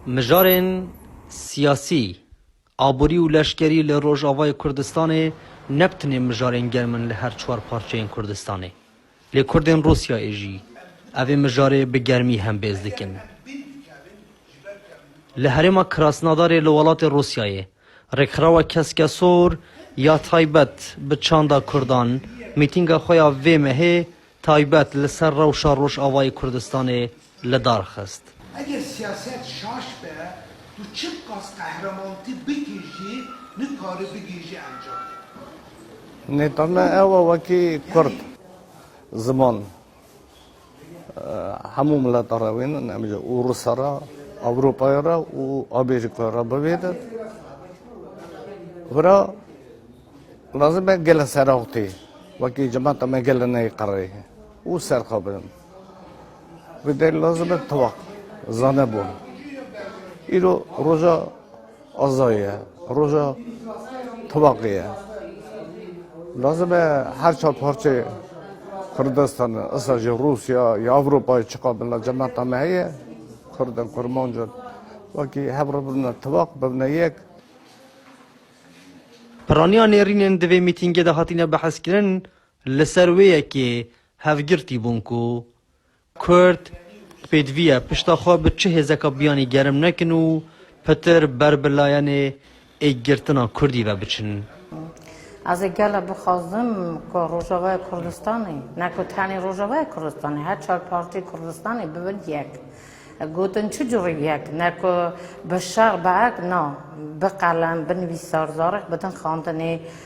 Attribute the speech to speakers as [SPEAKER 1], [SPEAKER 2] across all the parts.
[SPEAKER 1] Mijarên siyasî, aborî û leşkerî li Rojavayê Kurdistanê ne bi tenê mijarên germ in li her çar parçeyên Kurdistanê. Lê Kurdên Rûsyayê jî ev ê mijarê bi germî hembêz dikin. Li herêma Krasnodarê li welatê Rûsyayê Rêkxirawa Keskesor ya taybet bi çanda Kurdan mîtînga xwe ya vê mehê taybet li ser rewşa Rojavayê Kurdistanê li dar xist. Eger siyaset şaş be, tu çi qas qehremanti bikî jî nikari bigihîjî encamê. Nêta me ew e wekî kurd ziman Hemû mileta re wê ne, nemîje û Rûsa re, Ewropaya re û Amerîkaya re bivê de. Vira lazim e gelên Serextê wekî cemata me gelê neyê qereyê û serxa bidin. Vê derê lazim e tiwaq, zanebûn. Îro roja Azayî ye roja tevaqî ye. Lazim e her çar parçeyê Kurdistan e, issa jî Rûsya ya Ewropayê çiqa bila cemata me heye, Kurd in, Kurmanc in wekî hev re bibine tevaq, bibine yek. Piraniya nêrînên di vê mîtîngê de hatine behs kirin li ser wê yekê hevgirtî bûn ku Kurd pêdiviya pişta xwe bi çi hêzeka biyanî gerim nekin û pitir ber bi layenê êkgirtina kurdî ve biçin. Ez ê gele bixwazim ku Rojavaya Kurdistanê, ne ku tenê Rojavaya Kurdistanê, her çar partiyê Kurdistanê bibin yek. Gotin çi curî yek, ne ku bi şer bi erk, na, bi qelem, bi nivîsar zarek bidin xandinê.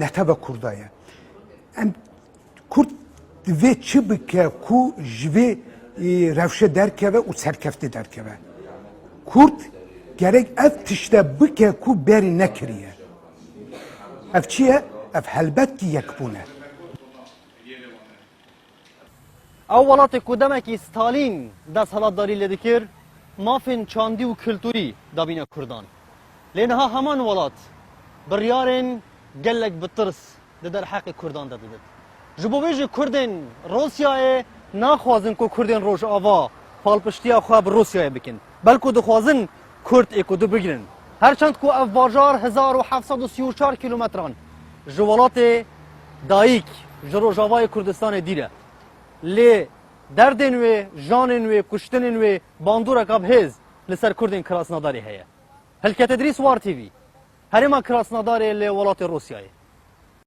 [SPEAKER 1] neteva kurda ye em kurd divê çi bike ku ji vê rewşe derkeve û serkeftî derkeve kurd gerek ev tişte bike ku berî nekiriye ev çi ye ev helbet ki yekbûne Ew welatê ku demekî Stalîn desthilatdarî lê dikir, mafên çandî û kulturî dabîne kurdan. Lê niha heman welat biryarên gelek bi tirs di derheqê kurdan de didin. Ji bo vê jî kurdên Rûsyayê naxwazin ku kurdên Rojava palpiştiya xwe bi Rûsyayê bikin. Belku dixwazin Kurd ê ku du bigrin. Her çend ku ev bajar hezar û heft sed û sî û çar kîlometran ji welatê dayîk, ji rojavayê Kurdistanê dîr e. Lê derdên wê, janên wê, kuştinên wê bandoreka bi hêz li ser Kurdên Krasnadarê heye. Hilket Îdrîs, War TV, Herêma Krasnadarê li welatê Rûsyayê.